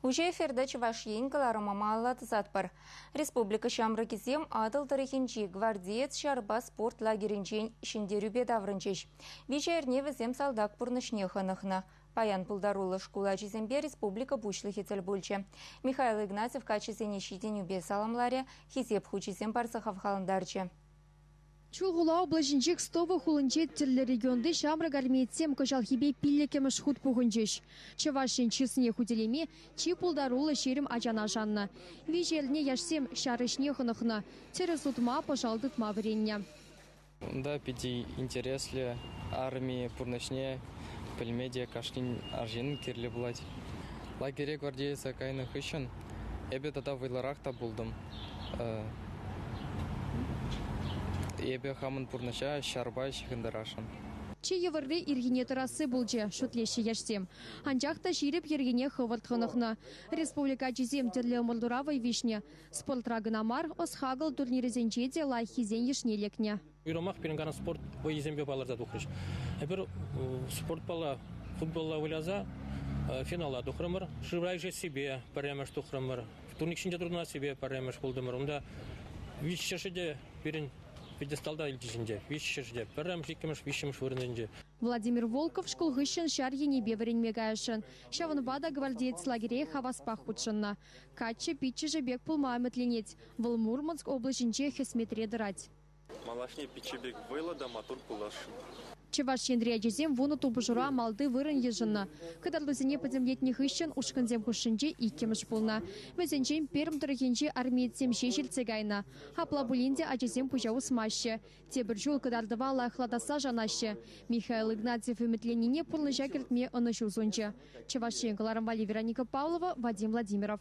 Уҫӑ эфирта Чӑваш Ен кӑларӑмӑма алла тӑсатпӑр. Республика ҫамрӑкӗсем Атӑл тӑрӑхӗнчи Гвардеец ҫарпа спорт лагерӗнчен ҫӗнтерӳпе таврӑнчӗҫ. Виҫӗ эрне вӗсем салтак пурнӑҫне хӑнӑхнӑ. Паян пултаруллӑ шкул ачисемпе республика Пуҫлӑхӗ тӗл пулчӗ. Михаил Игнатьев каччӑсене ҫитӗнӳпе саламларӗ, хисеп хучӗсем парса хавхалантарчӗ. Чулхула облаҫӗнчи Кстово хулинче тӗрлӗ регионти ҫамрӑк армеецсем кӑҫалхипе пиллӗкӗмӗш хут пухӑнчӗҫ. Чӑваш Ен чысне хӳтӗлеме чи пултаруллӑ ҫирӗм ачана шаннӑ. Виҫӗ эрне яшсем ҫар ӗҫне хӑнӑхнӑ, тӗрӗс утма, пӑшал тытма вӗреннӗ. Унта питӗ интереслӗ. Арми пурнӑҫне пӗлме те кашнин арҫын кирлӗ пулать. Лагере гвардееца кайнӑ хыҫҫӑн Эпӗ тата вӑйлӑрах та пултӑм. Эпӗ хамӑн пурнӑҫа ҫарпа ҫыхӑнтарасшӑн. Чи йывӑрри ирхине тӑрасси пулчӗ, шут леҫҫӗ яшсем. Анчах та ҫирӗп йӗркене хӑвӑрт хӑнӑхнӑ. Республика ачисем тӗрлӗ ӑмӑртура вӑй виҫнӗ. Спортра кӑна мар, ӑс-хакӑл турнирӗсенче те лайӑххисен йышне лекнӗ. Уйрӑмах пирӗн канӑн спорт вӑййисемпе палӑрса тухрӗҫ. Эпир спортпала, футболла выляса финала тухрӑмӑр. Шывра ишессипе пӗрремӗш тухрӑмӑр. Турник ҫинче туртӑнассипе пӗрремӗш пултӑмӑр. Унта виҫҫӗшӗ те пирӗн пьедесталта илчӗҫӗнче. Виҫҫӗшӗ те пӗрремӗш, иккӗмӗш, виҫҫӗмӗш вырӑнсенче. Владимир Волков шкул хыҫҫӑн ҫар енӗпе вӗренме каясшӑн. Ҫавӑнпа та гвардеец лагере хаваспах хутшӑннӑ. Каччӑ пиччӗшӗ пек пулма ӗмӗтленет. Вӑл Мурманск облаҫӗнче хӗсметре тӑрать. Малашне пичче пек вӑйлӑ та маттур пуласшӑн. Чӑваш Енри ачасем вунӑ тупӑшура малти вырӑн йышӑннӑ. Кӑтартусене пӗтӗмлетнӗ хыҫҫӑн ушкӑнсем хушшинче иккӗмӗш пулнӑ. Вӗсенчен Пермь тӑрӑхӗнчи армеецсем ҫеҫ илтсе кайнӑ. Апла пулин те ачасем пуҫа усмаҫҫӗ. Тепӗр ҫул кӑтартӑва лайӑхлатасса шанаҫҫӗ. Михаил Игнатьев ӗмӗтленнине пурнӑҫа кӗртме ӑнӑҫу сунчӗ. Чӑваш Ен кӑларӑм валли Вероника Павлова, Вадим Владимиров.